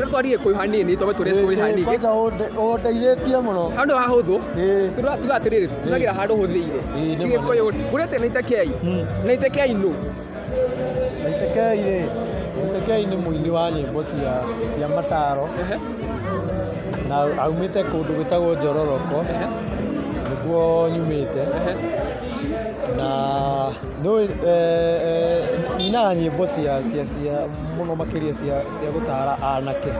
no twarie kũyũ hanini tondũ tũrĩ story hanini kwanza ũndeithĩtie mũno handũ ha hũthũ Ĩĩ. tuga tuga atĩrĩrĩ tunagira handũ hũthĩire Ĩĩ, nĩ ma. gĩkũyũ kurete na itekei Mm. na itekei nũ Waitekei rĩ Waitekei nĩ mũini wa nyĩmbo cia cia mataro Ehe, na aumĩte kũndũ gwĩtagwo Njororoko ehe, nĩguo nyumĩte ehe. na nĩ nyinaga nyĩmbo cia cia cia mũno makĩria cia, cia gũtara anake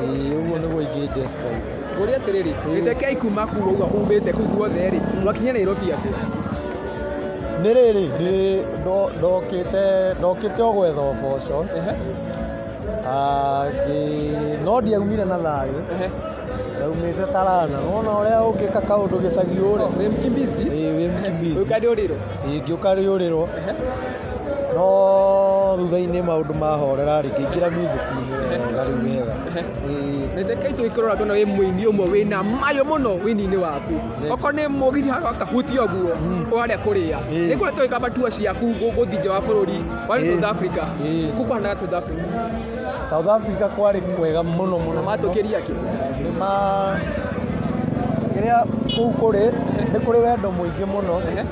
Ĩĩ, ũguo nĩguo ingĩ describe ngũria atĩrĩrĩ wĩtekei kuma kuu ũguo umĩte kuu guothe rĩ mwakinya nairobi atĩa nĩ rĩrĩ nĩ ndo- ndokĩte ndokĩte o gwetha ũboco Ehe, Ah, ngĩ- no ndiaumire na thayũ ehe. ndaumĩte tarana wona ũrĩa ũngĩka kaũndũ gĩcagi ũre Wĩ mkimbizi ĩĩ wĩ mkimbizi ũkandĩ ũrĩrwo ĩĩ ngĩũka rĩũrĩrwo Ehe. No thutha-inĩ maũndũ mahorera rĩ, ngĩingĩra music-inĩ wega rĩu wega. Ĩĩ. Reke kai tũgĩkorora tuona wĩ mũini ũmwe wĩna mayũ mũno wĩini-inĩ waku okorwo nĩ mũgithi handũ ha kahuti ũguo Mm. ũrarĩa kũrĩa Ĩĩ. nĩ kuona tũgĩkamba tua ciaku gũ- gũthiĩ nja wa bũrũri warĩ Ĩĩ. South Africa Ĩĩ. kũ kũhanaga South Africa South Africa kwarĩ kwega mũno mũno. na matũkĩria kĩ Nĩ ma kĩrĩa kũu kũrĩ nĩ kũrĩ wendo mũingĩ mũno. Ehe.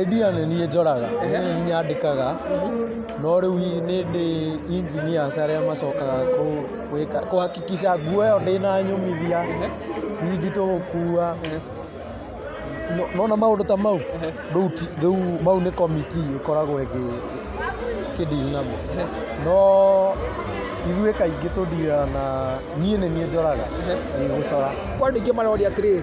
Idea nĩ niĩ njoraga, nĩ niĩ nyandĩkaga, no rĩu nĩ ndĩ engineers arĩa macokaga gwĩka, kũ hakikisha nguo ĩyo ndĩna nyũmithia, ti nditũ gũkua, nĩwona maũndũ ta mau, rĩu ti, rĩu mau nĩ committee ĩkoragwo ĩkĩ deal namo, no ithuĩ kaingĩ tũ deal naga, niĩ nĩ niĩ njoraga, ĩĩ gũcora. Kwandĩkithia maroria atĩrĩrĩ.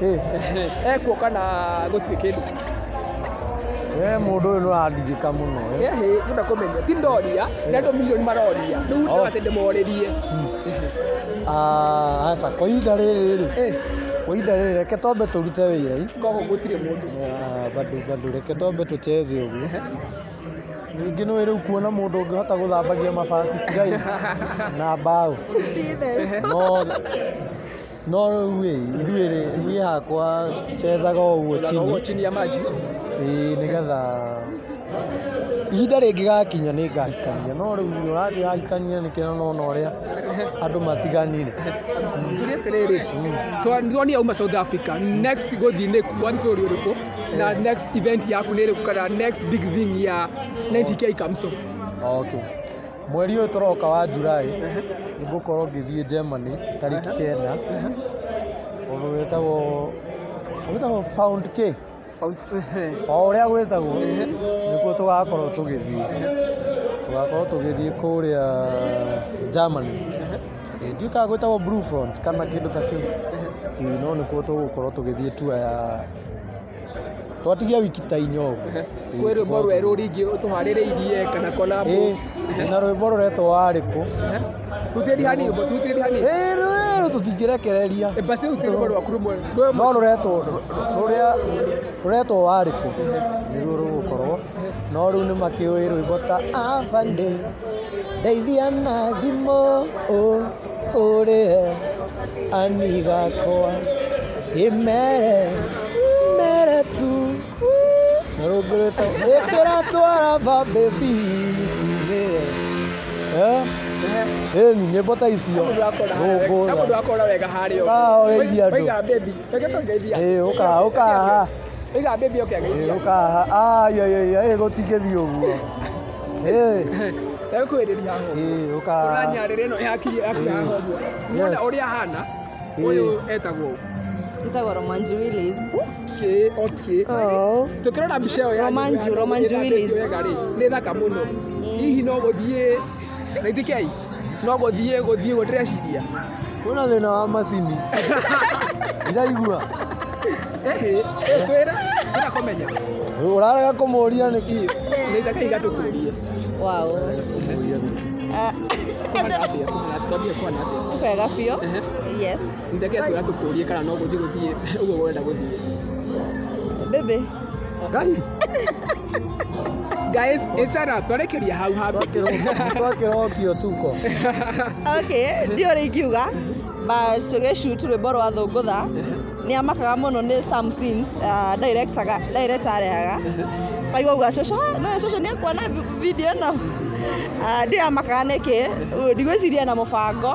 Eh, ekuo kana gũtirĩ kĩndũ we mũndũ ũyũ nĩũrandigĩka mũno eh. Ehe, tũnda kũmenya ti ndoria na andũ milioni maroria rĩu Oh. ndĩwa atĩ ndĩmorĩrie Ah, aca kwa ihinda rĩrĩ rĩ Eh, kwa ihinda rĩrĩ reke twambe tũrute wĩra ĩ. koho gũtirĩ mũndũ Ah, bado bado reke twambe tũcheze ũguo ningĩ nĩ rĩu kuona mũndũ ũngĩhota gũthambagia mabati tigai na mbaũ no No rĩu-ĩ, ithuĩ-rĩ, niĩ hakwa nyenjaga o ũguo chini. Ũguo chini ya maji. Ĩĩ nĩgetha ihinda rĩngĩgakinya nĩngahikania no rĩu nĩ ũranjĩra hikanie nĩkĩ na nona ũrĩa andũ matiganire. Tuge atĩrĩrĩ, twa- nĩturonire uma South Africa, next gũthiĩ nĩ kũ- wathiĩ bũrũri ũrĩkũ? Na next event yaku nĩ ĩrĩkũ kana next big thing ya 90K Kamso? Okay. Mweri ũyũ tũroka wa July nĩ ngũkorwo ngĩthiĩ Germany tarĩki kenda ũndũ wĩtagwo wĩtagwo Found K o ũrĩa gwĩtagwo nĩkuo tũgakorwo tũgĩthiĩ tũgakorwo tũgĩthiĩ kũrĩa Germany Ĩĩ, ndiũĩ kana gwĩtagwo Blue Front kana kĩndũ ta kĩu Ĩĩ, no nĩkuo tũgũkorwo tũgĩthiĩ tour ya twatigia wiki ta inya ũguo kwĩ rwĩmbo rwerũ ringĩ ũtũharĩrĩirie kana collab Ĩ, na rwĩmbo rũretwo warĩkũ tutĩri hanini rwĩmbo tutĩri hanini Ĩ, rwĩrũ tũtingĩrekereria Eh, basi utĩri rwĩmbo rwaku rũmwe rwĩmbo no rũretwo rũrĩa rũretwo warĩkũ nĩruo rũgũkorwo no rĩu nĩ makĩũĩ rwĩmbo ta abande ndeithia na thimũ ũ ũrĩ he ani gakwa ĩmere mere tu narũngũrĩte ĩkĩra twara babebi tumĩre ĩni nyĩmbo ta icio rũngũra akora wega harĩa Ah, oe iria andũ. Oiga baby, reke tũngeithie andũ. ĩĩ ũkaha ũkaha Oiga baby oke ĩĩ ageithie andũ. ũkaha ai ai ai ĩĩ gũtingĩthiĩ ũguo ekwĩrĩria hobwo tũranyarĩra ĩno yakinya hobwo muona ũrĩa ahana ũyũ etagwo Nitagwo Romanji Willis. okay okay Oh. tũkĩrora mbica ĩyo ya Romanji- Romanji Willis. nĩ thaka mũno hihi no gũthiĩ na ithikei no gũthiĩ gũthiĩ gũ ndĩreciria Kwĩna thĩna wa macini. Ndiraigua. Ĩhĩ, ĩĩ, twĩra twĩra kũmenya Ũrarega kũmũria nĩkĩ? nĩ itaka igatũkũria Wow. Kũmũria nĩkĩ? Ah, kũhana atĩa kũhana atĩa twambie kũhana atĩa nĩ kwega biũ. Ehe. Yes. ndeke twĩra tũkũrie kana no gũthiĩ gũthiĩ ũguo ũrenda gũthiĩ Baby. Ngai. Guys, etara twarekeria hau hau. Twakĩrokio tuko. Okay, ndio rĩkiuga but tũgĩshoot rwĩmbo rwa thũngũtha nĩ amakaga mũno nĩ some scenes uh, director ga- director arehaga kaigua uga cũcũ "Ah, no cũcũ nĩ akuona vi- video ĩno Ah, ndio amakaga nĩkĩ ndigwĩciria na mũbango